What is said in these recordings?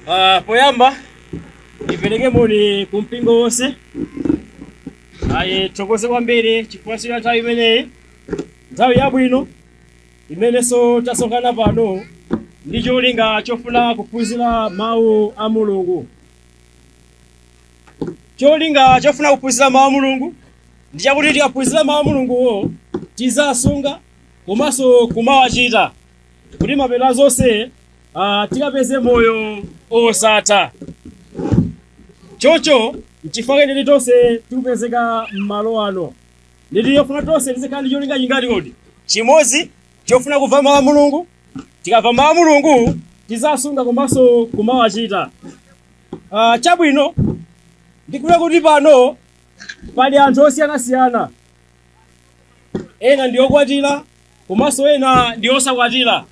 Uh, poyamba ndipereke moni ku mpingo wonse ayi tithokoze kwambiri chifukwa cha nthawi imeneyi nthawi yabwino imenenso tasonkhana pano ndi cholinga chofuna kuphunzira mawu a mulungu cholinga chofuna kuphunzira mawu a mulungu ndi chakuti tikaphunzira mawu a mulunguwo tiziwasunga komanso kumawachita kuti mapeto a zonse ah, tikapeze moyo osatha chocho nchifukwa chake tonse tikupezeka m'malo ano ndipofunika tonse tizikhala ndi cholinga chingati chimodzi chofuna kumva mawu a mulungu tikamva mawu a mulungu tiziwasunga komanso kumawachita Ah, chabwino ndikudziwa kuti pano pali anthu osiyanasiyana ena ndi okwatira komanso ena ndi osakwatira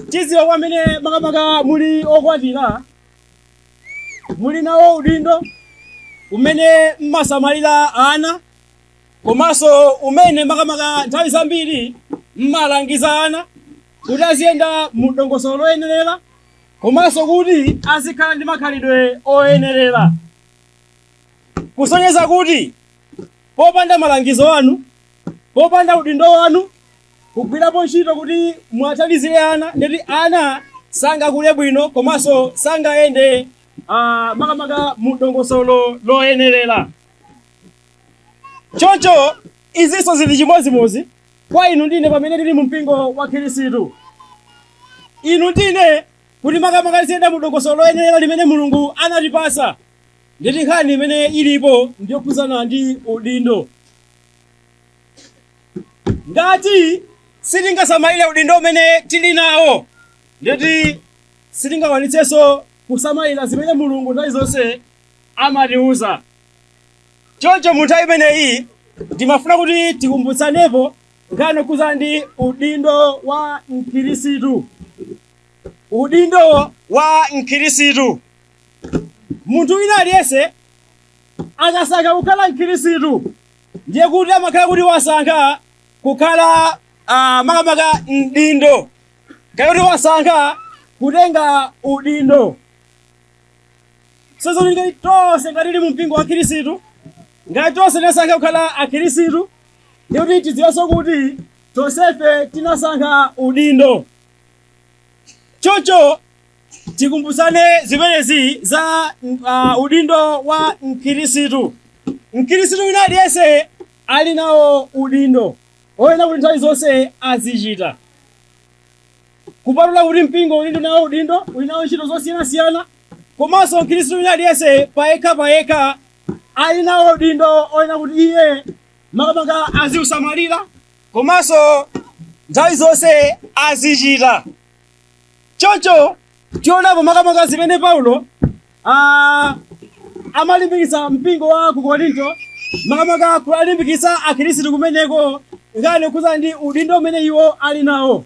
tidziwa kuti amene makamaka muli okwatira muli nawo udindo umene mmasamalira ana komanso umene makamaka nthawi zambiri mmalangiza ana kuti aziyenda mu dongosolo loyenerera komanso kuti azikhala ndi makhalidwe oyenerera kusonyeza kuti popanda malangizo anu popanda udindo wanu kugwirapo ntchito kuti muwathandizire ana ndeti ana sangakule bwino komanso sangayende ah, makamaka mu dongosolo loyenerera choncho izinso zili chimodzimodzi kwa inu ndi ine pamene tili mu mpingo wa khirisitu inu ndi ine kuti makamaka tiziyenda mu dongosolo loyenera limene mulungu anatipasa ndeti nkhani imene ilipo ndiyokhudzana ndi udindo ngati sitingasamalire udindo umene tili nawo ndeti sitingakwanitsenso kusamalira zimene mulungu nthawi zonse amatiuza choncho mu nthawi imeneyi ndimafuna kuti tikumbutsanepo nkhani yokhuzana ndi udindo wa mkhirisitu udindo wa mkhirisitu munthu wina aliyense akasankha kukhala mkhirisitu ndiye kuti amakhala kuti wasankha kukhala uh, makamaka mdindo kaya kuti wasankha kutenga udindo tsono ngati tonse ngati tili mu mpingo wa khirisitu ngati tonse tinasankha kukhala akhirisitu ndiye kuti tidziwenso kuti tonsefe tinasankha udindo choncho tikumbutsane zimenezi za uh, udindo wa mkhirisitu mkhirisitu wina aliyense ali nawo udindo oyenera kuti nthawi zonse azichita kupatula kuti mpingo uli nawo udindo uli nawo ntchito zosiyanasiyana komanso mkhristu wina aliyense payekha payekha ali nawo udindo oyenera kuti iye makamaka aziusamalira komanso nthawi zonse azichita choncho tionapo makamaka zimene paulo ah, amalimbikitsa mpingo wa ku korinto makamaka kuwalimbikitsa akhristu kumeneko nkhani yokhudzana ndi udindo umene iwo ali nawo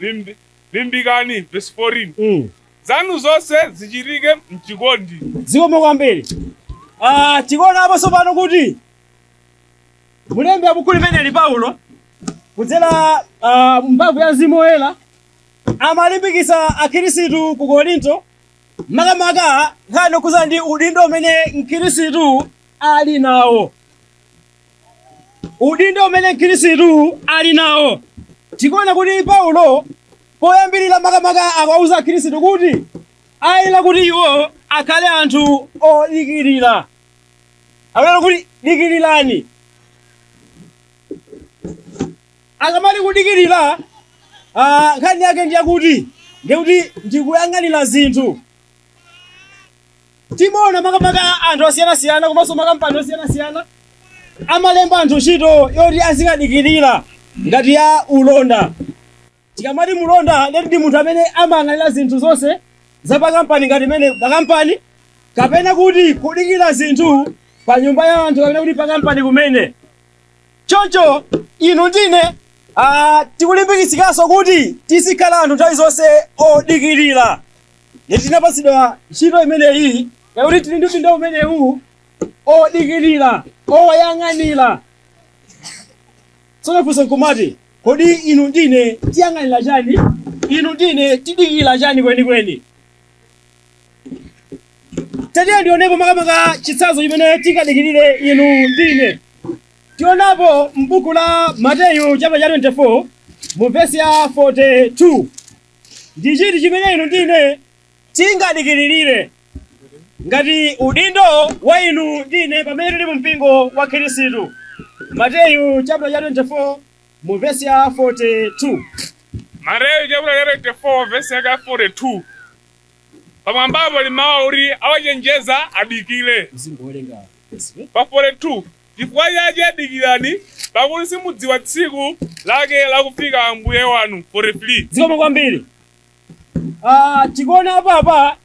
Limbi, limbikani, verse 14. Mm. Zanu zonse zichitike mchikondi. Zikomo kwambiri. Ah, tikuona apo tsopano kuti mulembi wa buku limeneli Paulo kudzera ah, mphamvu ya Mzimu Woyera amalimbikitsa Akhristu ku Korinto makamaka nkhani yokhudzana ndi udindo umene Mkhristu ali nawo. udindo umene mkhristu ali nawo tikuona kuti paulo poyambirira makamaka akawauza akhristu kuti ayenera kuti iwo akhale anthu odikirira akunena kuti dikirirani akamati kudikirira ah, nkhani yake ndiyakuti ndiyakuti ndikuyang'anira zinthu timaona makamaka anthu osiyanasiyana komanso makampani osiyanasiyana amalemba anthu ntchito yoti azikadikirira ngati ya ulonda tikamati mulonda leti ndi munthu amene amayang'anira zinthu zonse za pakampani ngati mmene pakampani kapena kuti kudikira zinthu pa nyumba ya anthu kapena kuti pakampani kumene choncho inu ndine ah, tikulimbikitsidwanso kuti tizikhala anthu nthawi zonse odikirira Ngati tinapatsidwa ntchito imeneyi yakuti tili ndi udindo umenewu odikirira oyang'anira tsono funso nkumati kodi inu ndine tiyang'anira chani inu ndine tidikira chani kwenikweni tatiye tionepo makamaka chitsanzo chimene tingadikirire inu ndine tionapo m'buku la mateyu chaputala 24 mu vesi ya 42 Ndi chiti chimene inu ndi ine tingadikirire ngati udindo wa inu ndi ine pamene tili mu mpingo wa Khristu? Mateyu chapter cha 24 mu vesi ya 42. Mateyu chaputala cha 24 vesi yake ya 42 pamwambapo limawa kuti awachenjeza adikire. Pa 42 Chifukwa chake dikirani, pakuti simudziwa tsiku lake lakufika Ambuye wanu. 43. zikomo kwambiri Ah, tikuona apapa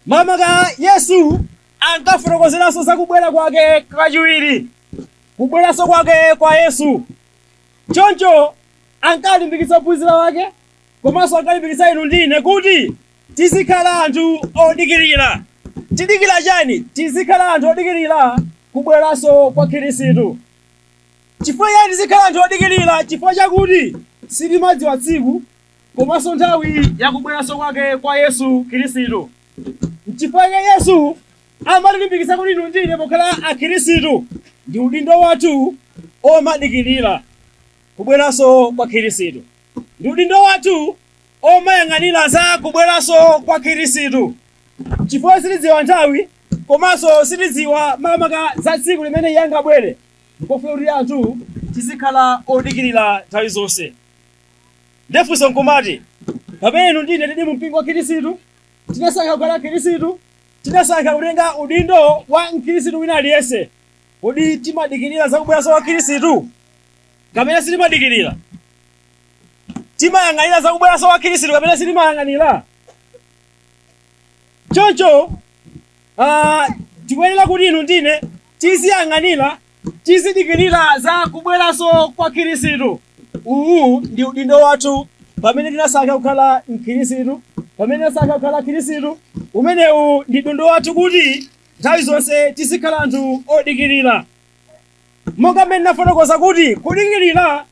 makamaka yesu ankafotokozeranso za kubwera kwake kachiwiri kubweranso kwake kwa yesu choncho ankalimbikitsa ophunzira wake komanso ankalimbikitsa inu ndi ine kuti Tizikhala anthu odikirira. Tidikira chani? Tizikhala anthu odikirira kubweranso kwa Khirisitu. Chifukwa chani tizikhala anthu odikirira? Chifukwa chakuti sitimadziwa tsiku komanso nthawi ya kubweranso kwake kwa Yesu Khirisitu. N'chifukwa chake Yesu amatilimbikitsa kuti inu ndi ine pokhala Akhirisitu ndi udindo wathu omadikirira kubweranso kwa Khirisitu. Ndi udindo wathu omayang'anira za kubweranso kwa khirisitu chifukwa sitidziwa nthawi komanso sitidziwa makamaka za tsiku limene iye angabwere nkofuna kuti anthu tizikhala odikirira nthawi zonse ndefunso nkumati pamene inu ndi ine tili mu mpingo wa khirisitu tinasankha kukhala khirisitu tinasankha kutenga udindo wa mkhirisitu wina aliyense kodi timadikirira za kubweranso kwa khirisitu kapena sitimadikirira timayang'anira za kubweranso kwa khristu kapena sitimayang'anira choncho ah, tikuyenera kuti inu ndi ine tiziyang'anira tizidikirira za kubweranso kwa khristu uwu ndi udindo wathu pamene tinasankha kukhala mkhristu pamene tinasankha kukhala khristu umenewu ndi udindo wathu kuti nthawi zonse tizikhala anthu odikirira monga mmene ndinafotokoza kuti kudikirira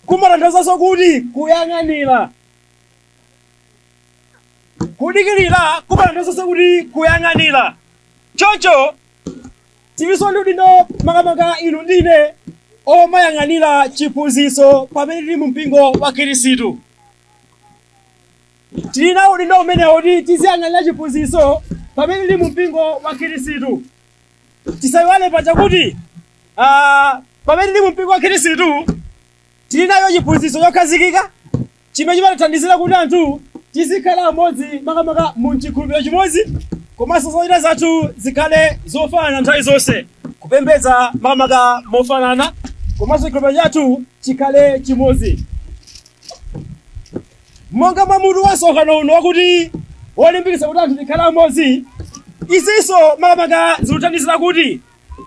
kumatanthauzanso kuti kuyang'anira. Kudikirira kumatanthauzanso kuti kuyang'anira. Choncho tilinso ndi udindo makamaka inu ndi ine omayang'anira chiphunzitso pamene tili mu mpingo wa Khristu. Tili nawo udindo umenewo kuti tiziyang'anira chiphunzitso pamene tili mu mpingo wa Khristu. tisayiwale paja kuti ah, pamene tili mu mpingo wa khristu tili nacho chiphunzitso chokhazikika chimene chimatithandizira kuti anthu tizikhala amodzi makamaka mu chikhulupiriro chimodzi komanso zochita zathu zikhale zofanana nthawi zonse kupembedza makamaka mofanana komanso chikhulupiriro chathu chikhale chimodzi Monga mwa mutu wa msonkhano uno wakuti Wolimbikitsa Kuti Anthu Tikhale Amodzi, izinso makamaka zikuthandizira kuti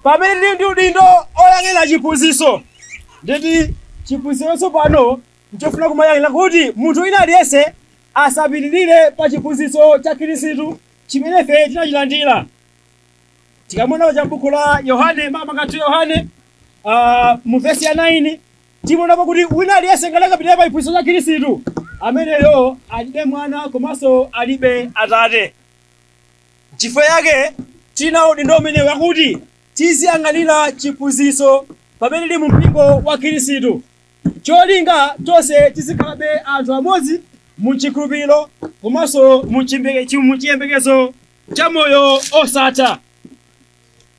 pamene tili ndi udindo woyang'anira chiphunzitso, nditi chiphunzitsocho pano n'chofuna kumayang'anira kuti munthu wina aliyense asapitirire pa chiphunzitso cha Kristu chimene ife tinachilandira. Tikamaona cha m'buku la Yohane, makamaka 2 Yohane, ah, mu vesi ya 9, Timaonapo kuti wina aliyense ngati akapitirira pa chiphunzitso cha Khristu, ameneyo alibe Mwana komanso alibe Atate. Nchifukwa chake tina udindo umenewu wakuti tiziyang'anira chiphunzitso pamene tili mumpingo wa Khristu. Cholinga, tonse tizikhalabe anthu amodzi mu chikhulupiriro komanso mu chiyembekezo cha moyo wosatha.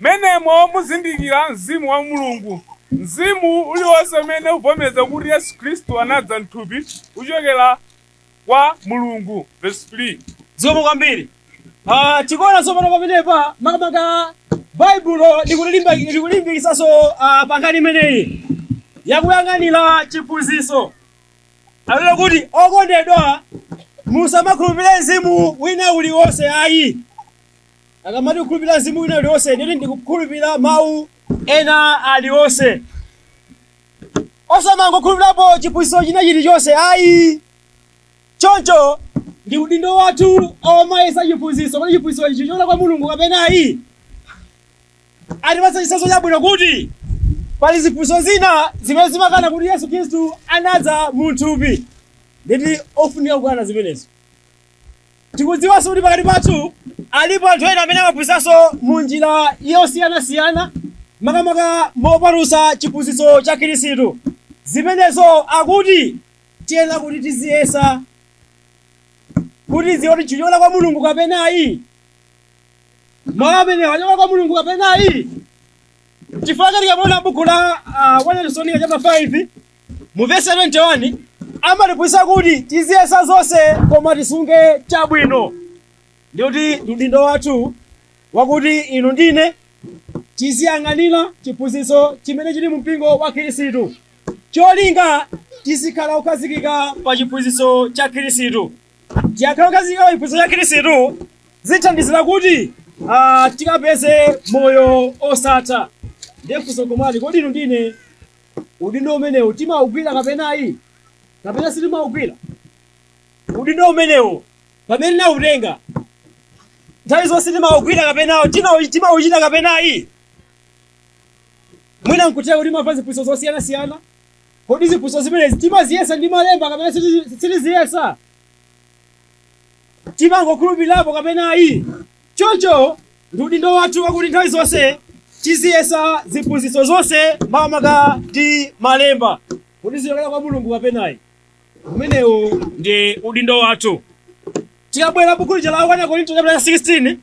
Mmenemo muzindikira Mzimu wa Mulungu. Mzimu uliwonse umene uvomeza kuti Yesu Khristu anadza m'thupi uchokera kwa Mulungu, vesi 3. Zikomo kwambiri. Ah, tikuona tsopano pamenepa makamaka Baibulo likulilimba likulimbikitsanso ah, pa nkhani imeneyi yakuyang'anira chiphunzitso. Atero kuti okondedwa musamakhulupirire mzimu wina uliwonse ayi. akamati kukhulupirira mzimu wina ulionse nditi ndikukhulupirira mawu ena alionse osamangokhulupirapo chiphunzitso china chilichonse ayi choncho ndi udindo wathu omayesa chiphunzitso kuti chiphunzitso ichi chichokera kwa mulungu kapena ayi atipatsa chitsanzo chabwino kuti pali ziphunzitso zina zimene zimakana kuti yesu khristu anadza mu thupi nditi ofunika kukana zimenezo Tikudziwanso kuti pakati pathu alipo anthu ena amene amaphunzitsanso mu njira yosiyanasiyana makamaka mopatutsa chiphunzitso cha Khristu. Zimenezo akuti tiyenera kuti tiziyesa kuti tidziwe kuti chichokera kwa Mulungu kapena ayi. Mawu amenewa achokera kwa Mulungu kapena ayi. Chifukwa chake tikamaona buku la ah, 1 Tesalonika chapter 5 mu vesi 21 amatiphunzitsa kuti tiziyesa zonse koma tisunge chabwino ndikuti ndi udindo wathu wakuti inu ndine tiziyang'anira chiphunzitso chimene chili mu mpingo wa khristu cholinga tizikhala okhazikika pa chiphunzitso cha khristu tikakhala okhazikika pa chiphunzitso cha khristu zithandizira kuti ah, tikapeze moyo osatha ndiye funso kumati kodi inu ndine udindo umenewu timaugwira kapena ayi kapena sitimaugwira udindo umenewu pamene tinautenga nthawi zonse timaugwira kapena tinau- timauchita kapena ayi mwina nkutheka kuti timamva ziphunzitso zosiyanasiyana kodi ziphunzitso zimenezi timaziyesa ndi malemba kapena sitizi- sitiziyesa timangokhulupirirapo kapena ayi Choncho, ndi udindo wathu wakuti nthawi zonse tiziyesa ziphunzitso zonse makamaka ndi malemba kuti zichokera kwa mulungu kapenayi umenewo ndi udindo wathu tikabwera buku lija la 1 korinto chapter 16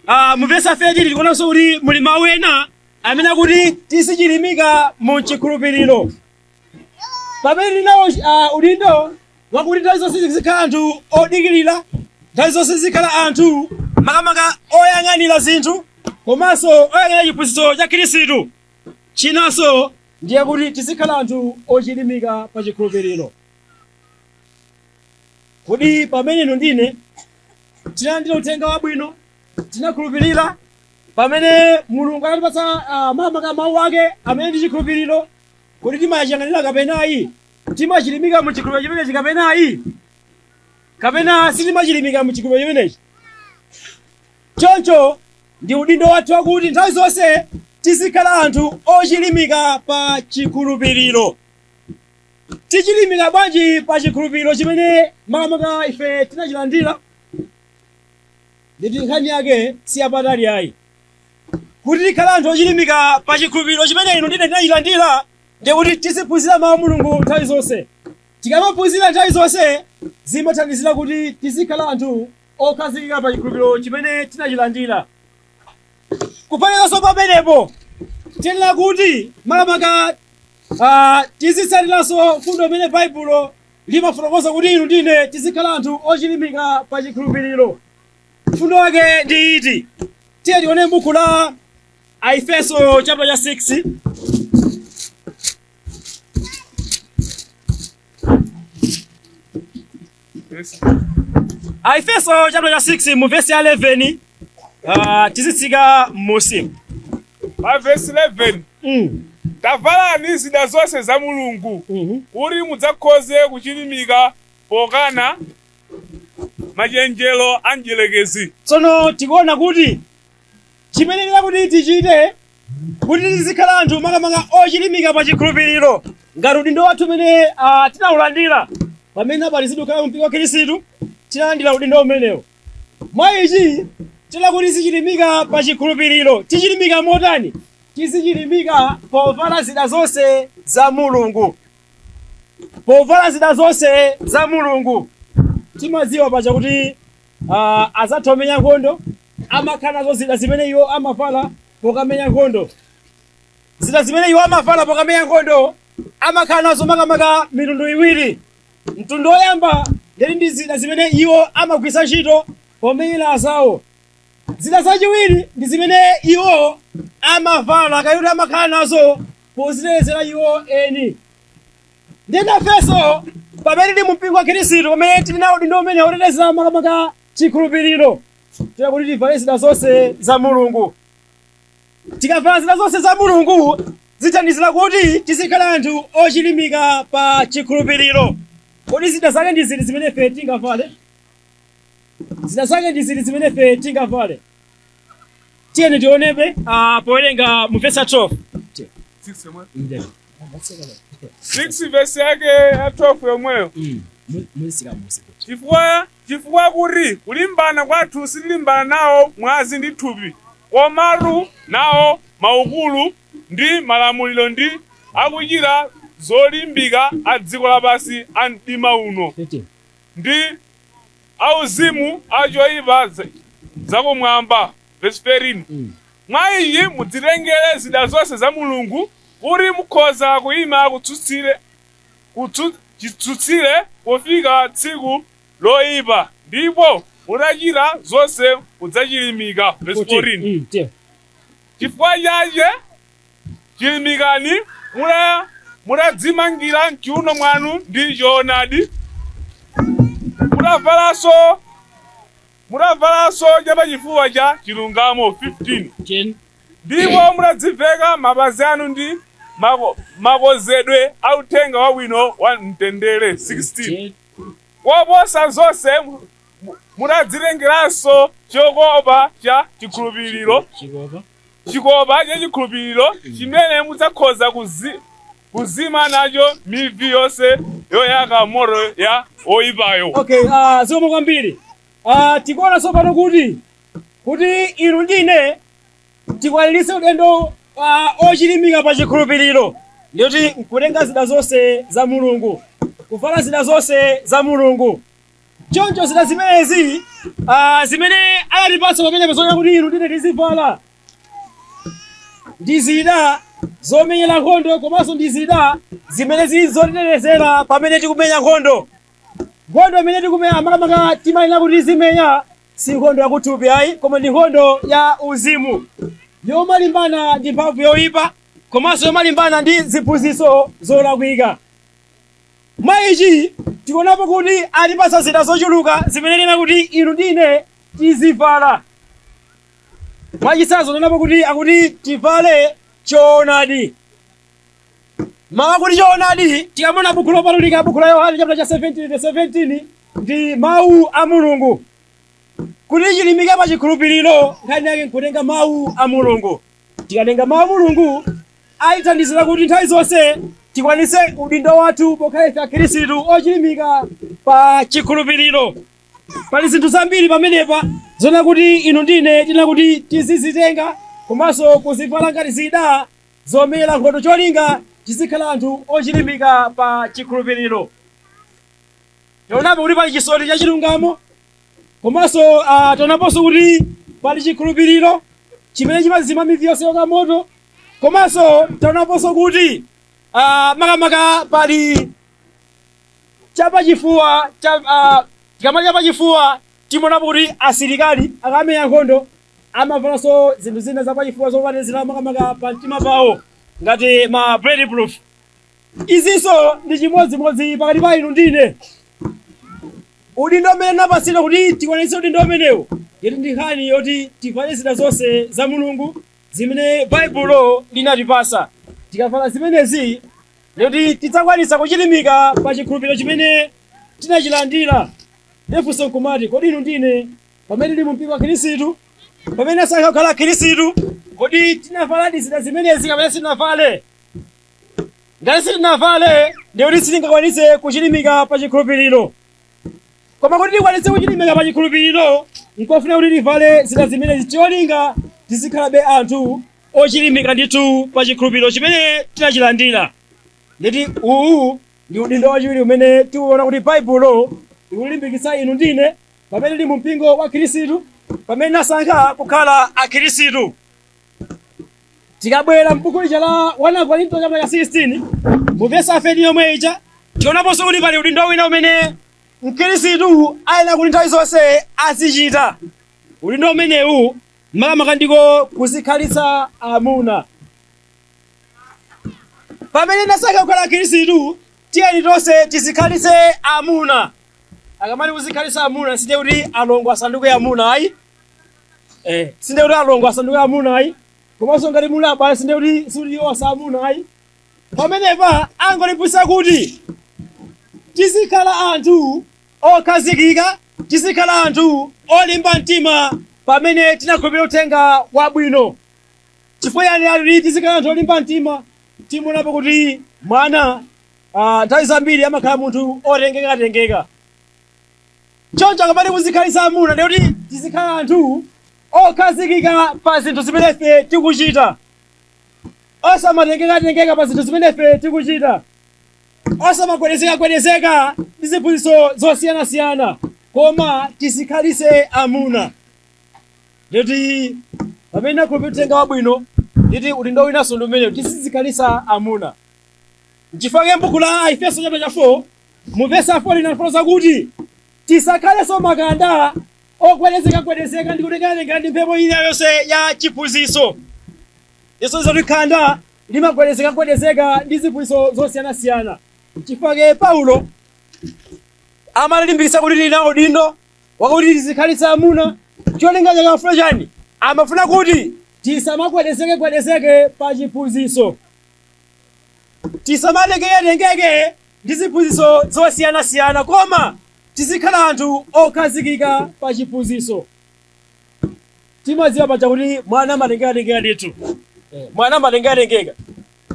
ah, mu vesi 13 tikuonanso kuti muli mawu ena amene akuti tizichilimika mu chikhulupiriro pamene tili nawo ah, udindo wakuti nthawi zonse tizikhala anthu odikirira nthawi zonse tizikhala anthu makamaka oyang'anira zinthu komanso oyang'anira chiphunzitso cha khristu chinanso ndi chakuti tizikhala anthu ochilimika pa chikhulupiriro kodi pamene inu ndi ine tinalandira uthenga wabwino tinakhulupirira pamene mulungu anatipatsa ah, makamaka mawu ake amene ndi chikhulupiriro Kodi timachiyang'anira kapena ayi? Timachilimika mu chikhulupiriro chimenechi kapena ayi? Kapena sitimachilimika mu chikhulupiriro chimenechi? Choncho ndi udindo wathu wakuti nthawi zonse tizikhala anthu ochilimika pa chikhulupiriro. Tichilimika bwanji pa chikhulupiriro chimene makamaka ife tinachilandira? Nditi nkhani yake si yapatali ayi. kuti tikhale anthu ochilimika pa chikhulupiriro chimene inu ndi ine tinachilandira ndi kuti tiziphunzira mawu a mulungu nthawi zonse tikamaphunzira nthawi zonse zimathandizira kuti tizikhala anthu okhazikika pa chikhulupiriro chimene tinachilandira kuphatikizanso pamenepo tiyenera kuti makamaka ah, tizitsatiranso mfundo imene baibulo limafotokoza kuti inu ndi ine tizikhala anthu ochilimika pa chikhulupiriro Mfundo yake ndi iti? Tiyeni tione buku la Aefeso chapter cha 6. Aefeso chapter cha 6 mu verse ya 11 uh, tizitsika m'musi. pa vesi 11 Mm. tavalani zida zonse za mulungu Mhm. kuti mudzakhoze kuchilimika pokana machenjero a mdyerekezi tsono tikuona kuti chiyenera kuti tichite kuti tizikhala anthu makamaka ochilimika pa chikhulupiriro ngati udindo wathu umene ah, tinaulandira pamene tabatizidwa kukhala mpingo wa khristu tinalandira udindo umenewo mwa ichi tiyenera kuti tizichilimika pa chikhulupiriro tichilimika motani tizichilimika povala zida zonse za mulungu povala zida zonse za mulungu timaziwa paja kuti uh, azathu amenya nkhondo amakhala nazo zida zimene iwo amavala pokamenya nkhondo zida zimene iwo amavala pokamenya nkhondo amakhala nazo makamaka mitundu iwiri mtundu woyamba ndiye ndi zida zimene iwo amagwitsa ntchito pomenyera azawo zida zachiwiri ndi zimene iwo amavala kaya kuti amakhala nazo pozitetezera iwo eni nde nafenso pamene tili mumpingo wa khristu pamene tili nawo udindo umenewo otetezera makamaka chikhulupiriro tiyenera kuti tivale zida zonse za mulungu tikavala zida zonse za mulungu zithandizira kuti tizikhala anthu ochilimika pa chikhulupiriro kodi zida zake ndi ziti zimene ife tingavale zida zake ndi ziti zimene ife tingavale tiyeni tionebe ah, powerenga mu vesi ya 12 Six yomwe. Six verse yake ya 12 yomweyo. Chifukwa chifukwa kuti kulimbana kwathu sitilimbana nawo mwazi ndi thupi, komatu nawo maukulu ndi malamuliro ndi akuchita zolimbika a dziko lapansi a mdima uno. ndi auzimu a choipa za- zakumwamba verse 13 mwa ichi mudzitengere zida zonse za mulungu kuti mukhoza kuyima kutsutsire kutsu- chitsutsire pofika tsiku loyipa ndipo mutachita zonse mudzachilimika verse 14 Mm, tiyo. chifukwa chache Chilimikani, mutadzimangira m'chiuno mwanu ndi chowonadi, mutavalanso chapachifuwa cha chilungamo, 15 ndipo mutadziveka mapazi anu ndi makonzedwe a uthenga wabwino wa mtendere, 16 koposa zonse, mutadzitengeranso chokopa cha chikhulupiriro. chikopa cha chikhulupiriro chimene mudzakhoza kuzi, kuzima nacho mivi yonse yoyaka moto ya oyipayo okay uh, zikomo kwambiri uh, tikuona tsopano kuti kuti inu ndine tikwaniritse udindo uh, ochilimika pa chikhulupiriro ndiye kuti nkutenga zida zonse za mulungu kuvala zida zonse za mulungu choncho zida zimenezi zimene anatipatsa pamenepa zoona kuti inu ndine tizivala ndi zida zomenyera nkhondo komanso ndi zida zimene zili zotetezera pamene tikumenya nkhondo nkhondo imene tikumenya makamaka timayenera kuti tizimenya si nkhondo yakuthupi ayi koma ndi nkhondo ya uzimu yomalimbana ndi mphamvu yoyipa komanso yomalimbana ndi ziphunzitso zolakwika Mwa ichi tikuonapo kuti atipatsa zida zochuluka zimene tiyenera kuti inu ndi ine tizivala. Mwachitsanzo tikuonapo kuti akuti tivale choonadi. Mawu akuti choonadi tikamaona Buku Lopatulika, Buku la Yohane chaputala cha 17 vesi 17 ndi Mawu a Mulungu. Kuti chilimike pa chikhulupiriro nkhani yake nkutenga Mawu a Mulungu. Tikatenga Mawu a Mulungu atithandizira kuti nthawi zonse tikwanise udindo wathu pokhala ife akhirisitu ochilimika pa chikhulupiriro pali zinthu zambiri pamenepa zoona kuti inu ndine tiyenera kuti tizizitenga komanso kuzivala ngati zida zomenyera nkhondo cholinga tizikhala anthu ochilimika pa chikhulupiriro taonapo kuti pali chisoti cha chilungamo komanso ah, taonaponso kuti pali chikhulupiriro chimene chimazima mivi yonse yoyaka moto komanso taonaponso kuti ah, makamaka pali chapachifuwa cha ah, tikamati chapachifuwa timaonapo kuti asilikali akamenya nkhondo amavalanso zinthu zina zapachifuwa zotetezera makamaka pa mtima pawo ngati ma bulletproof Izinso ndi chimodzimodzi pakati pa inu ndi ine. Udindo umene tinapatsidwa kuti tikwanitse udindo umenewo, ndiyetu ndi nkhani yoti tivale zida zonse za Mulungu zimene Baibulo linatipatsa. Tikavala zimenezi, ndikuti tidzakwanitsa kuchirimika pa chikhulupiriro chimene tinachilandira. Ndiye funso nkumati, kodi inu ndi ine pamene tili mu mpingo wa Khristu, pamene tasankha kukhala Akhristu, kodi tinavaladi zida zimenezi kapena sitinavale? ngati sitinavale ndiye kuti sitingakwanitse kuchilimika pa chikhulupiriro koma kuti tikwanitse kuchilimika pa chikhulupiriro nkofuna kuti tivale zida zimenezi cholinga tizikhalabe anthu ochilimika ndithu pa chikhulupiriro chimene tinachilandira ndiyetu uwu ndi udindo wachiwiri umene tikuona kuti baibulo likulimbikitsa inu ndine pamene tili mu mpingo wa khristu pamene tinasankha kukhala akhristu tikabwera m'buku lija la 1 akorinto chaputala 16 mu vesi 13 yomwe ija tionaponso kuti pali udindo wina umene mkhristu ayenera kuti nthawi zonse azichita udindo umenewu makamaka ndiko kuzikhalitsa amuna pamene tinasankha kukhala akhristu tiyeni tonse tizikhalitse amuna akamati kuzikhalitsa amuna sinde kuti alongo asanduke amuna ayi eh sinde kuti alongo asanduke amuna ayi komanso ngati muli abale sinde kuti sikuti iwo asa amuna ayi pamenepa angolimbikitsa kuti tizikhala anthu okhazikika tizikhala anthu olimba mtima pamene tinakhulupirira uthenga wabwino chifukwa chani ali tizikhala anthu olimba mtima timaonapo kuti mwana ah, nthawi zambiri amakhala munthu otengekatengeka choncho akamati kuzikhalitsa amuna ndi kuti tizikhala anthu okhazikika pa zinthu zimene ife tikuchita osamatengekatengeka pa zinthu zimene ife tikuchita osamagwedezekagwedezeka ndi ziphunzitso zosiyanasiyana koma tizikhalitse amuna nditi pamene tinakhulupirira uthenga wabwino nditi udindo winanso ndi umenewu tizikhalitsa amuna nchifukwa chake m'buku la aefeso chaputala 4 Mu vesi 4 linafotokoza kuti tisakhalenso makanda ogwedezekagwedezeka ndi kutengekatengeka ndi mphepo ina yonse ya chiphunzitso. Yesu zoti khanda limagwedezekagwedezeka ndi ziphunzitso zosiyanasiyana. Chifukwa chake Paulo amalimbikitsa kuti tili nawo udindo wakuti tizikhalitsa amuna cholinga chake amafuna chani amafuna kuti tisamagwedezekegwedezeke pa chiphunzitso tisamatengeketengeke ndi ziphunzitso zosiyanasiyana koma tizikhala anthu okhazikika pa chiphunzitso timadziwa paja kuti mwana amatengekatengeka ndithu mwana amatengekatengeka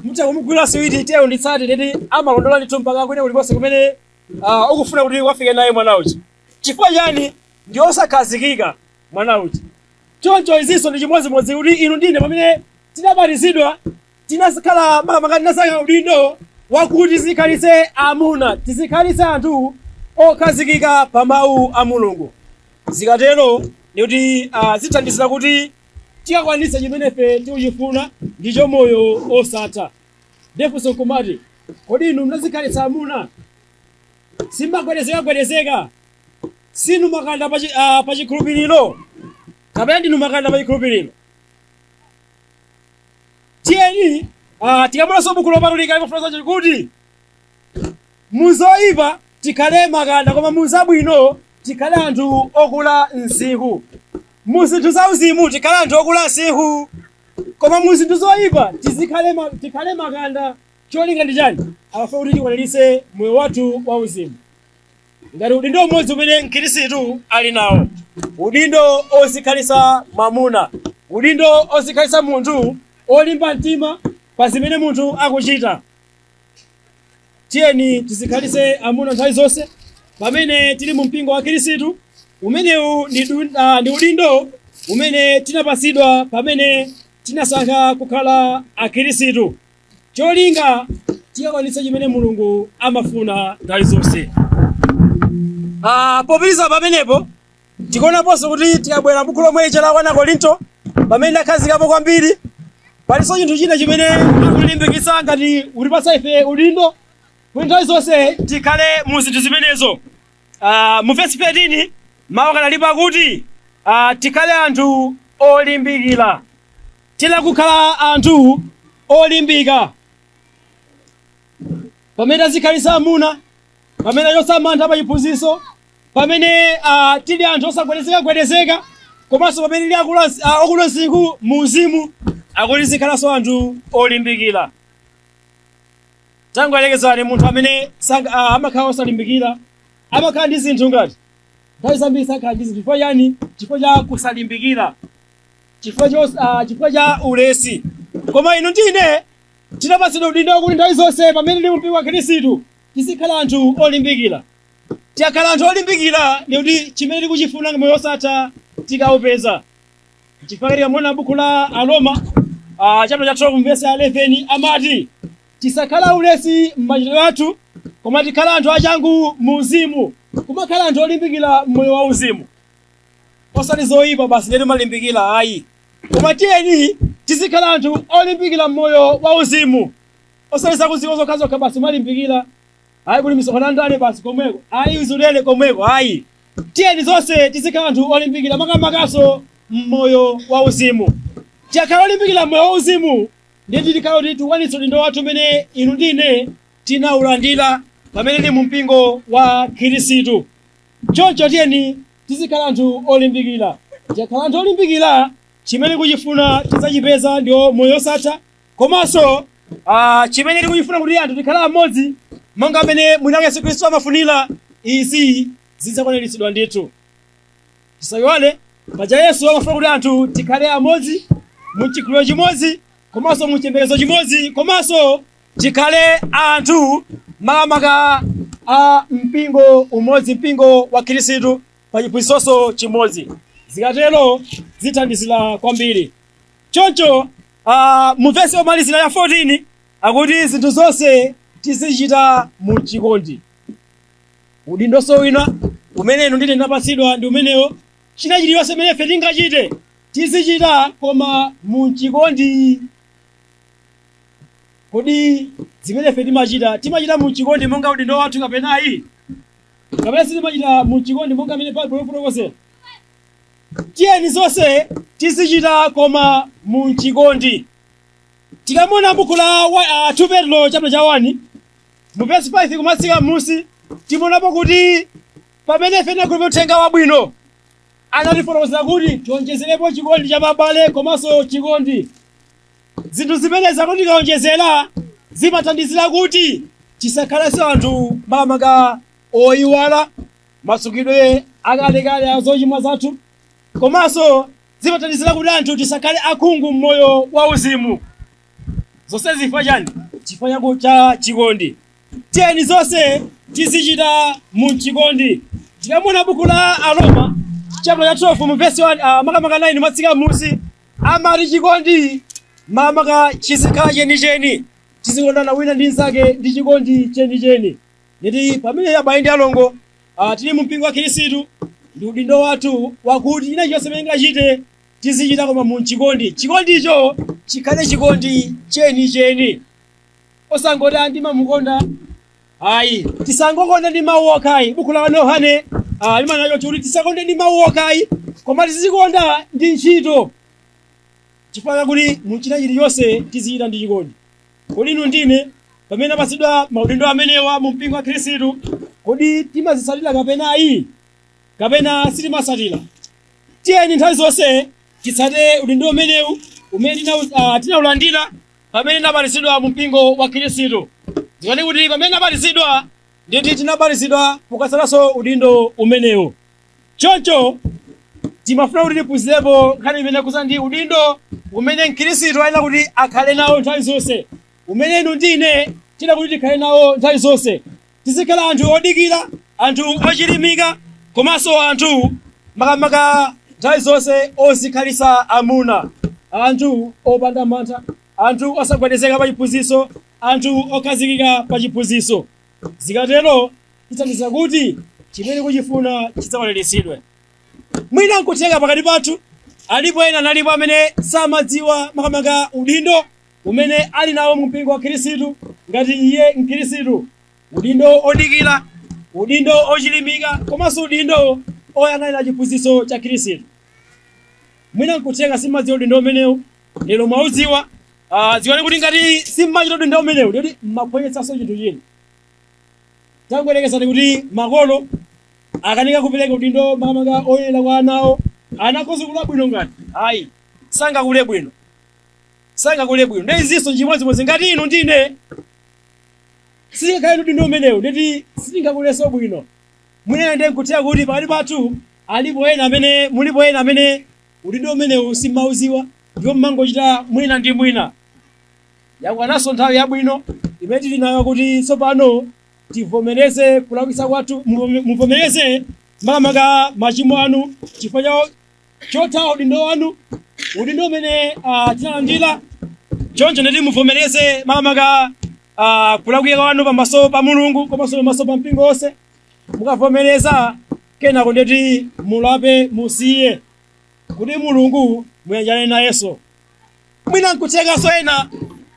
mutha kumugulira siwiti tiye nditsate nditi amalondola ndithu mpaka kwina kulikonse kumene ah, ukufuna kuti ukafike naye mwana uja chifukwa chani ndi osakhazikika mwana uja choncho izinso ndi chimodzimodzi kuti inu ndi ine pamene tinabatizidwa tinazikhala makamaka tinasankha udindo wakuti tizikhalitse amuna tizikhalitse anthu okhazikika pa mawu a mulungu zikatero ndikuti ah, zithandizira kuti tikakwanitse chimene ife tikuchifuna ndicho moyo osatha nde funso nkumati kodi inu munazikhalitsa amuna simumagwedezekagwedezeka si inu makanda pa chi- ah, pa chikhulupiriro kapena ndinu makanda pa chikhulupiriro tiyeni ah, tikamaonanso buku lopatulika limafotokoza kuti muzoyipa tikhale makanda koma muzabwino tikhale anthu okula msinkhu muzinthu za uzimu tikhale anthu okula msinkhu koma muzinthu zoyipa tizikhale ma- tikhale makanda cholinga ndi chani amafuna kuti tikwaniritse moyo wathu wa uzimu ngati udindo umodzi umene mkhirisitu ali nawo udindo ozikhalitsa mamuna udindo ozikhalitsa munthu olimba mtima pa zimene munthu akuchita tiyeni tizikhalitse amuna nthawi zonse pamene tili mu mpingo wa khirisitu umenewu ndi du- ah, ndi udindo umene tinapatsidwa pamene tinasankha kukhala akhirisitu cholinga tikakwanitse chimene mulungu amafuna nthawi zonse Ah, popitiriza pamenepo tikuonaponso kuti tikabwera m'buku lomweli la wani akorinto pamene takhazikapo kwambiri palinso chinthu china chimene akulimbikitsa ngati kutipatsa ife udindo kuti nthawi zonse tikhale mu zinthu zimenezo Ah, mu vesi 13 mawu akanalipo akuti ah, tikhale anthu olimbikira Tiyenera kukhala anthu olimbika. Pamene tadzikhalitsa amuna, pamene tachotsa mantha pa chiphunzitso, pamene ah, tili anthu osagwedezekagwedezeka, komanso pamene tili akulu ansi- ah, okula msinkhu mu uzimu, akuti tizikhalanso anthu olimbikira. Tangoyerekezani munthu amene sanga- ah, amakhala osalimbikira, amakhala ndi zinthu ngati nthawi zambiri sakhala ndi zinthu chifukwa chani? Chifukwa cha kusalimbikira. chifukwa cho ah, chifukwa cha ulesi koma inu ndine tinapatsidwa udindo wakuti nthawi zonse pamene tili mpingo wa khristu tizikhala anthu olimbikira tikakhala anthu olimbikira ndi kuti chimene tikuchifuna ndi moyo wosatha tikaupeza chifukwa tikamaona buku la aroma ah, chapter cha 12 verse ya 11 amati tisakhale aulesi m'machitidwe athu koma tikhala anthu achangu mu uzimu kumakhala anthu olimbikira mmoyo wa uzimu osati zoyipa basi ndiye timalimbikira ayi koma tiyeni tizikhala anthu olimbikira mmoyo wa uzimu osati zakudziko zokhazokha basi kumalimbikira ayi kumisonkhano ya ndale basi komweko ayi uzulele komweko ayi tiyeni zonse tizikhala anthu olimbikira makamakaso mmoyo wa uzimu tikakhala olimbikira mmoyo wa uzimu ndiye tikhala kuti tikwanitsa udindo wathu umene inu ndine tinaulandira pamene tili mu mpingo wa khirisitu Choncho tiyeni tizikhala anthu olimbikira. Tikakhala anthu olimbikira, chimene tikuchifuna tidzachipeza ndiwo moyo wosatha. Komanso ah, chimene tikuchifuna kuti anthu tikhale amodzi monga mmene mwinake Yesu Khristu amafunira, izi zidzakwaniritsidwa ndithu. Tisayiwale paja Yesu amafuna kuti anthu tikhale amodzi mu chikhulupiriro chimodzi komanso mu chiyembekezo chimodzi komanso tikhale anthu makamaka a mpingo umodzi mpingo wa khristu pa chiphunzitso chimodzi zikatero zithandizira kwambiri choncho uh, mu vesi yomalizira ya 14 akuti zinthu zonse tizichita mu chikondi udindoso wina umene inu ndi ine tinapatsidwa ndi umenewo china chilichonse chimene ife tingachite Tizichita Koma M'chikondi. Kodi zimene ife timachita, timachita m'chikondi monga udindo wathu kapena ayi? Kapena sitimachita m'chikondi monga mmene Baibulo lifotokozera? Tiyeni zonse tizichita koma m'chikondi. Tikamaona buku la 2 Petulo chaputala cha 1 mu vesi 5 kumatsika m'musi, timaonapo kuti pamene ife tinakhulupirira uthenga wabwino, anatifotokozera kuti tiwonjezerepo chikondi cha pabale komanso chikondi. Zinthu zimenezi akuti tikawonjezera zimathandizira kuti tisakhalenso anthu makamaka oyiwala matsukidwe akalekale a zochimwa zathu komanso zimathandizira kuti anthu tisakhale akhungu m'moyo wauzimu. Zonsezi chifukwa chani? Chifukwa chaku- cha chikondi. tiyeni zonse tizichita m'chikondi tikamaona buku la aroma chapter cha 12 mu verse 1 ah, makamaka 9 kumatsika m'musi amati chikondi makamaka chizikhala chenicheni tizikondana wina ndi mnzake ndi chikondi chenicheni nditi pamene abale ndi alongo ah, tili mu mpingo wa khristu ndi udindo wathu wakuti china chilichonse chimene tingachite tizichita koma m'chikondi chikondicho chikhale chikondi chenicheni osangoti ah, ndimamukonda ayi tisangokonda ndi mawu okha ayi buku la yohane ah, limanena choti kuti tisakonde ndi mawu okha ayi koma tizikonda ndi ntchito chifukwa chakuti mu china chilichonse tizichita ndi chikondi kodi inu ndi ine pamene tinapatsidwa maudindo amenewa mu mpingo wa khristu kodi timazitsatira kapena ayi kapena sitimatsatira tiyeni nthawi zonse titsate udindo umenewu umene tina- ah, tinaulandira pamene tinabatizidwa mu mpingo wa Khristu. Dziwani kuti pamene tinabatizidwa nditi tinabatizidwa pokatsatanso udindo umenewu. Choncho timafuna kuti tiphunzirepo nkhani imene ikukhudza ndi udindo umene Mkhristu ayenera kuti akhale nawo nthawi zonse, umene inu ndi ine tiyenera kuti tikhale nawo nthawi zonse. tizikhala anthu odikira anthu ochilimika komanso anthu makamaka nthawi zonse ozikhalitsa amuna anthu opanda mantha anthu osagwedezeka pa chiphunzitso anthu okhazikika pa chiphunzitso zikatero tithandiza kuti chimene tikuchifuna chidzakwaniritsidwe mwina nkutheka pakati pathu alipo ena analipo amene samadziwa makamaka udindo umene ali nawo mu mpingo wa Khristu ngati iye Mkhristu, udindo odikira, udindo ochilimika, komanso udindo oyang'anira chiphunzitso cha Khristu. Mwina nkutheka simadziwa udindo umenewu, lero mwaudziwa, ah, dziwani kuti ngati simmachita udindo umenewu, ndeti mmaphonyetsanso chinthu china. Tangoyerekezani kuti makolo akanika kupereka udindo makamaka oyenera kwa anawo, ana akhoza kula bwino ngati? Ayi, sangakule bwino. sangakule bwino nde izinso nchimodzimodzi ngati inu ndine sitingakhale ndi udindo umenewu ndeti sitingakuleso bwino mwina ndi nkutheka kuti pakati pathu alipo ena amene mulipo ena amene udindo umenewu simmauziwa ndipo mmangochita mwina ndi mwina yakwananso nthawi yabwino imene tili nayo kuti tsopano tivomereze kulakwitsa kwathu muvomereze makamaka machimo anu chifukwa cha chothawa udindo wanu udindo umene ah, tinalandira choncho ndeti muvomereze makamaka ah, kulakwika kwanu pamaso pa mulungu komanso pamaso pa mpingo wonse mukavomereza kenako ndeti mulape musiye kuti mulungu muyanjane nayenso mwina nkuthekanso ena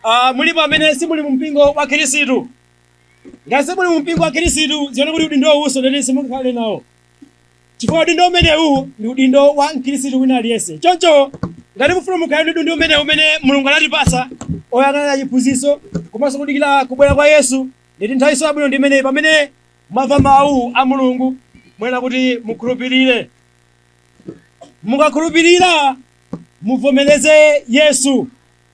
ah, mulipo amene simuli mu mpingo wa khirisitu ngati simuli mu mpingo wa khirisitu dziwani kuti udindo uwunso ndeti simungakhale nawo chifukwa udindo umenewu ndi udindo wa mkhristu wina aliyense choncho ngati mufuna mukhale ndi udindo umenewu umene mulungu anatipasa oyang'anira chiphunzitso komanso kudikira kubwera kwa yesu ndeti nthawiso yabwino ndi imeneyi pamene mwamva mawu a mulungu muyenera kuti mukhulupirire mukakhulupirira muvomereze yesu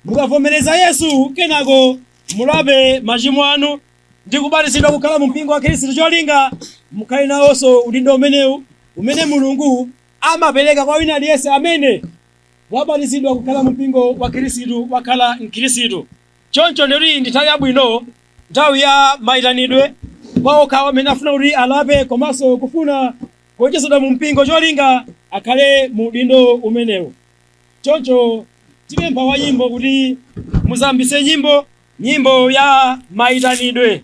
mukavomereza yesu kenako mulape machimo anu ndi kubatizidwa kukhala mu mpingo wa khristu cholinga mukhale nawonso udindo umenewu umene mulungu amapereka kwa wina aliyense amene wabatizidwa kukhala mu mpingo wa khristu wakhala mkhristu choncho ndeti ndi nthawi yabwino nthawi ya mayitanidwe kwa okhawo amene afuna kuti alape komanso kufuna kuonjezedwa mu mpingo cholinga akhale mu udindo umenewu choncho tipempha wa nyimbo kuti mudzayambitse nyimbo nyimbo ya maitanidwe